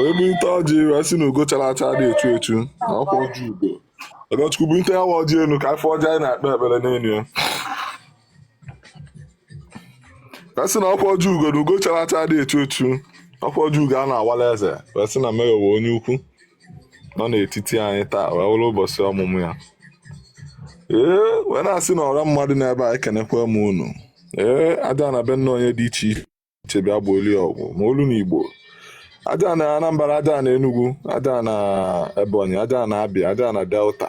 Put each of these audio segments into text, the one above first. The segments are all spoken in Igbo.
wee bunite ọjị wee sị na ugo chara acha adị echu echu na ọkwa ọjị ugo ọgọchukwu bunite ya wa ọjị elu ka afọ ọjị anyị na-akpe ekpere n'elu ya wee sị na ọkwa ọjị ugo na ugo chara acha adị echu echu ọkwa ọjị ugo a na-awala eze wee sị na mayor wụ onye ukwu nọ n'etiti anyị taa wee wụrụ ụbọchị ọmụmụ ya ee wee na-asị na ọra mmadụ n'ebe a ekenekwa m unu ee aja ana be nna anyị dị iche iche che bịa gbaalụ ya ọgụ ma olu na igbo aja ana anambra aja ana enugu aja ana ebonyi aja ana abịa aja ana delta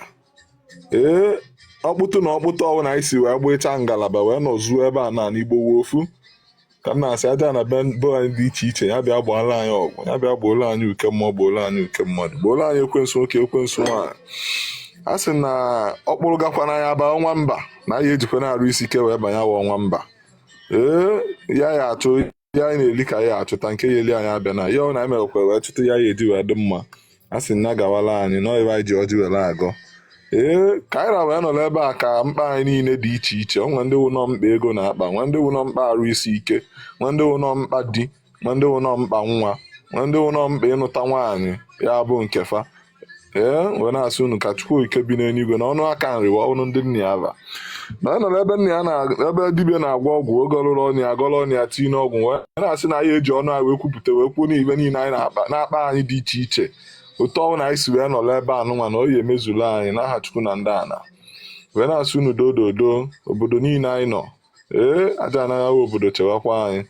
ee ọkpụtụ na ọkpụtụ ọbụla anyị si wee gbachaa ngalaba wee nọzuo ebe a na igbo wụ ofu ka m na-asị aja ana be be anyị dị iche iche ya bịa gbaala anyị ọgụ ya bịa gboola anyị uke mmụọ gboola anyị uke mmadụ gboola anyị ekwensu nwoke ekwensu nwaanyị a sị na ọkpụrụ gakwa na anyị aba ọnwa mba na anyị ejikwanụ arụ isi ike wee banye awa ọnwa mba ee ya ya achụ ihe anyị na-eli ka ya achụta nke ya-eli anyị abịana ya ọ na anyị merekwa wee chụta ihe anyị eji wee dị mma a sị na gawala anyị na ọyịba anyị ji ọjị were agọ ee ka anyị ra wee nọ n'ebe a ka mkpa anyị niile dị iche iche o nwe ndị wụ nọ mkpa ego na-akpa nwe ndị wụ nọ mkpa arụ isi ike nwe ndị wụ nọ mkpa di ma ndị wụ nọ mkpa nwa ma ndị wụ nọ mkpa ịnụta nwaanyị ya bụ nke fa ee wee na-asị unu ka chukwu ike bi n'eluigwe na ọnụ aka nri wa ọnụ ndị nna ya ba na ọ nọrọ ebe nna ya na ebe dibịa na-agwọ ọgwụ oge ọlụrụ ọnụ ya agọrọ ọnụ ya tinye n'ọgwụ wee na-asị na anyị eji ọnụ anyị wee kwupụta wee kwuo n'ibe niile anyị na-akpa na-akpa anyị dị iche iche otu ọwụna anyị si wee nọrọ ebe a nụnwa na ọ ya-emezulu anyị n'aha chukwu na ndị ana wee na-asị unu dododo obodo niile anyị nọ ee aja ana ji obodo chewakwa anyị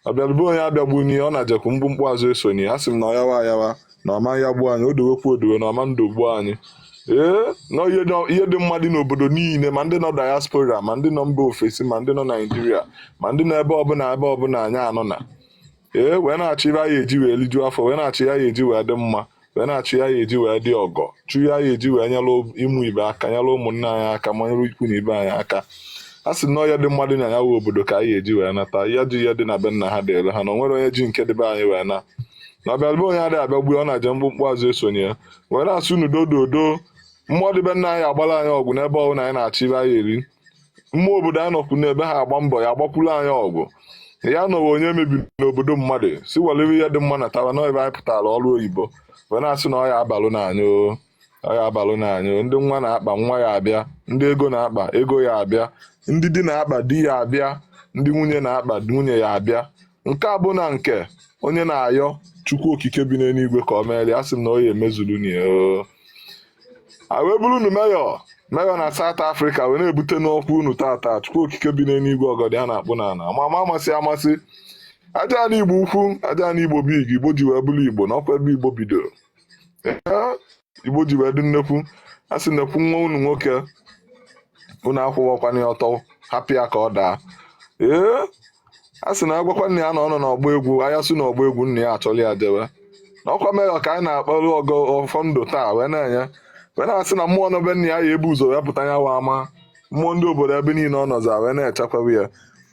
ọbịalụ be onye abịagbune ya ọ najekwu mkpumkpu azụ esone ya a sị m na ọ yawa ayawa na ọ ma ayagbu anyị o dowekwu edowe na ọ ma edogbu anyị ee na ihe dị- ihe dị mma dị n'obodo niile ma ndị nọ diaspora ma ndị nọ mba ofesi ma ndị nọ naijiria ma ndị nọ ebe ọbụla ebe ọbụla anyị nọ na ee wee na-achọ ibe anyị eji wee lijuo afọ wee na-achọ ihe anyị eji wee dị mma wee na-achụ ihe anyị eji wee dị ọgọ chụ ihe anyị eji wee nyere ụmụ ibe aka nyere ụmụnne anyị aka ma nyere ikwu na ibe anyị aka a sị na ọ ihe dị mma dị na ya wụ obodo ka anyị eji wee nata ya ji ihe dị na be nna ha dịrị ha na o nwere onye ji nke dị be anyị wee na na ọbịalụ be onye adịghị abịagbu ọ naje mkpumkpu azụ esone ya wee na-asị unu dododo mmụọ dị be nna anyị agbara anyị ọgụ n'ebe ọbụla anyị na-achọ ibe anyị eri mmụọ obodo anyị nọkwu n'ebe ha agba mbọ ya agbakwuru anyị ọgụ ya nọwa onye mebiri n'obodo mmadụ si welewe ihe dị mma natawa na ebe anyị pụtara ọrụ oyibo wee na-asị na ọ ya-abalụnụ anyị o ọ ya-abalụnụ anyị o ndị nwa na-akpa nwa ya abịa ndị ego na-akpa ego ya abịa ndị di na-akpa di ya abịa ndị nwunye na-akpa nwunye ya abịa nke a bụ na nke onye na-ayọ chukwu okike bi n'eluigwe ka ọ meere ya, a sị m na ọ ya-emezuru nụ ya oo. a wee buru unu Mayor Mayor na South Africa wee na-ebute n'ọkwa unu tata chukwu okike bi n'eluigwe ọgọdọ ya na-akpụ n'ala ama ama amasị amasị aja ala igbo ukwu aja ala igbo big igbo ji wee bụrụ igbo na ọkwa ebe igbo bidoro Ee, Igbo ji wee dị nnekwu a sị nekwu nwa unu nwoke unu akwụwakwana ya ọtọ hapụ ya ka ọ daa ee a sị na agwakwa nna ya na ọ nọ n'ọgbọ egwu anyasị n'ọgbọ egwu nna ya achọrọ ya jewe na ọkwa Mayor ka anyị na-akpọrọ ọgọ ọfọ ndụ taa wee na-enye wee na-asị na mmụọ nọ be nna ya ya-ebu ụzọ wee pụta ya wa ama mmụọ ndị obodo ebe niile ọ nọzị a wee na-echekwawa ya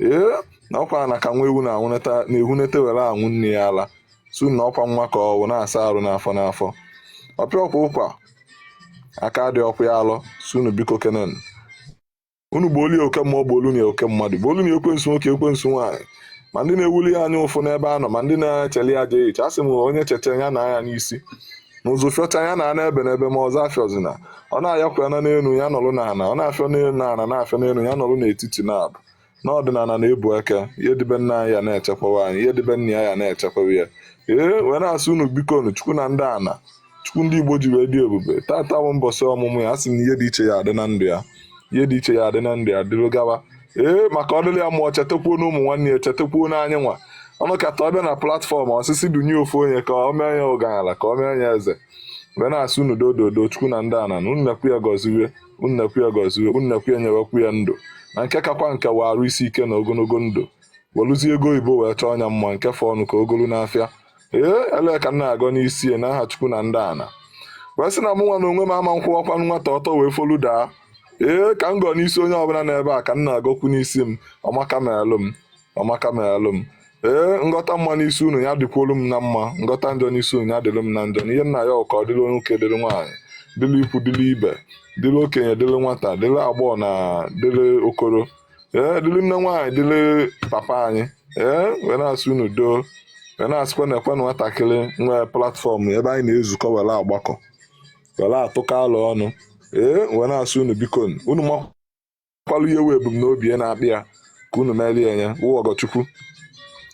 ee na ọkwa na ka nwa ewu na-anwụnata na-ehunete were aṅụ nne ya ala sị na ọkwa nwa ka ọ wụ na-asa arụ n'afọ n'afọ ọ pịa ọkwa ụkwa aka dị ọkwa ya alọ sị unu biko kenen unu gbuolu ya oke mmụọ gbuolu ya oke mmadụ gbuolu ya ekwensu nwoke ekwensu nwaanyị ma ndị na-ewelụ ya anya ụfụ n'ebe a nọ ma ndị na-echeli ya ajọ uche a sị m onye cheta ya na anya n'isi na ụzụ fịọcha ya na ana ebe n'ebe ma ọzọ afịọzina ọ na-afịọkwanụ n'elu ya nọrụ n'ala ọ na-afịọ n'elu n'ala na-afịọ n'elu ya nọrụ n'etiti na ọ bụ na ọdịnala na-ebu eke ihe dị be nna anyị ya na-echekwawa anyị ihe dị be nna ya ya na-echekwawa ya ee wee na-asị unu biko nu chukwu na ndị ana chukwu ndị igbo ji wee dị ebube tata bụ mbọsị ọmụmụ ya a sị na ihe dị iche ya adị na ndụ ya ihe dị iche ya adị na ndụ ya dịrị gawa ee maka ọ dịrị ya mma ọ chetakwuo na ụmụ nwanne ya chetakwuo na anyị nwa ọ nọkata ọ bịa na platform ọ sị sị dunye ofu onye ka ọ mee ya ọgalanya ka ọ mee ya eze wee na-asị unu dododo chukwu na ndị ana na unu nekwu ya gọziwe unu nekwu ya gọziwe unu nekwu ya nyewekwu ya ndụ na nke kakwa nke wa arụ isi ike na ogologo ndụ welụzie ego oyibo wee chọọnụ ya mma nke fọọ nụ ka o golu n'afịa ee elee ka m na-agọ n'isi ya n'aha chukwu na ndị ana wee sị na mụ nwa n'onwe m ama m akwụwakwa nwata ọtọ wee folu daa ee ka m gọọ n'isi onye ọbụla n'ebe a ka m na-agọkwu n'isi m ọmaka melụ m ọmaka meralụ m ee m gọta mma n'isi unu ya dịkwuolu m na mma m gọta njọ n'isi unu ya dịlụ m na njọ na ihe m na-ayọ ka ọ dịlụ nwoke dịlụ nwaanyị dịlụ ikwu dịlụ ibe dịlụ okenye dịlụ nwata dịlụ agbọghọ na dịlụ okoro ee dịlụ nne nwaanyị dịlụ papa anyị ee wee na-asị unu doo wee na-asịkwa nekwanụ nwatakịrị nwe platform ebe anyị na-ezukọ were agbakọ were atụkọ alo ọnụ ee wee na-asị unu biko unu kwalụ ihe wụ ebumnobi ya na-akpa ya ka unu meere ya wụ ọgọchukwu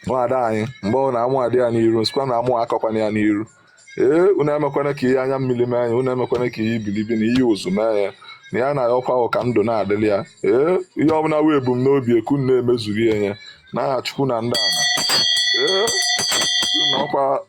nwaada anyị mgbe ọ na amụ adị ya n'iru m sịkwa na amụ akọkwana ya n'iru ee unu emekwana ka ihe anya mmiri mee ya unu emekwana ka ihe ibilibi na ihe ụzụ mee ya na ya na ọkwa ahụ ka ndụ na-adịrị ya ee ihe ọbụla wụ ebumnobi ya ka unu na-emezuru ya n'aha chukwu na ndị ala ee na ọkwa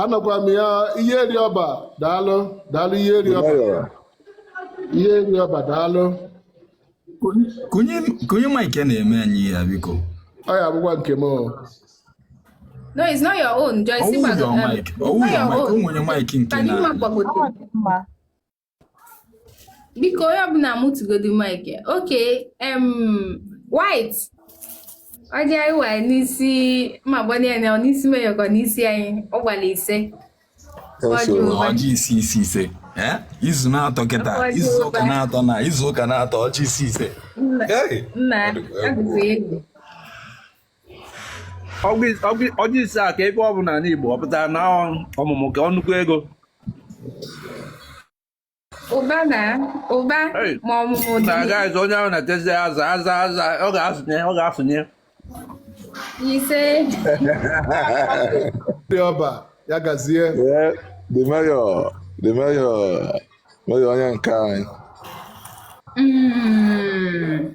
anọkwa m ya ihe eri ọba daalụ daalụ ihe eri ọba ihe eri ọba daalụ kunye kunye mic na-eme anyị ihe a biko ọ ya abụkwa nke m No, it's not your own. Joyce, ọ wụ your mic. Ọ wụ your mic. Ụmụ onye mic nke na. biko onye ọbụla mụtụgodu mic okay em white ọjị anyị wara n'isi ma gbanye ya ọ n'isi meyọkọ n'isi anyị ọ gbara ise ọjị isi isi ise izu na-atọ kịta izu ụka na-atọ na izu ụka na-atọ ọjị isi ise nna adịghị egwu ọjị ise a ka ebe ọ bụ n'ala Igbo ọ pụtara na ọmụmụ ka nnukwu ego ụba na ụba ma ọmụmụ dị na gaghịzi onye ahụ na-etezi aza aza aza ọ ga-asụnye ọ ga-asụnye ise eri ọba ya gazie the mayor the mayor mayor onye nke anyị mm,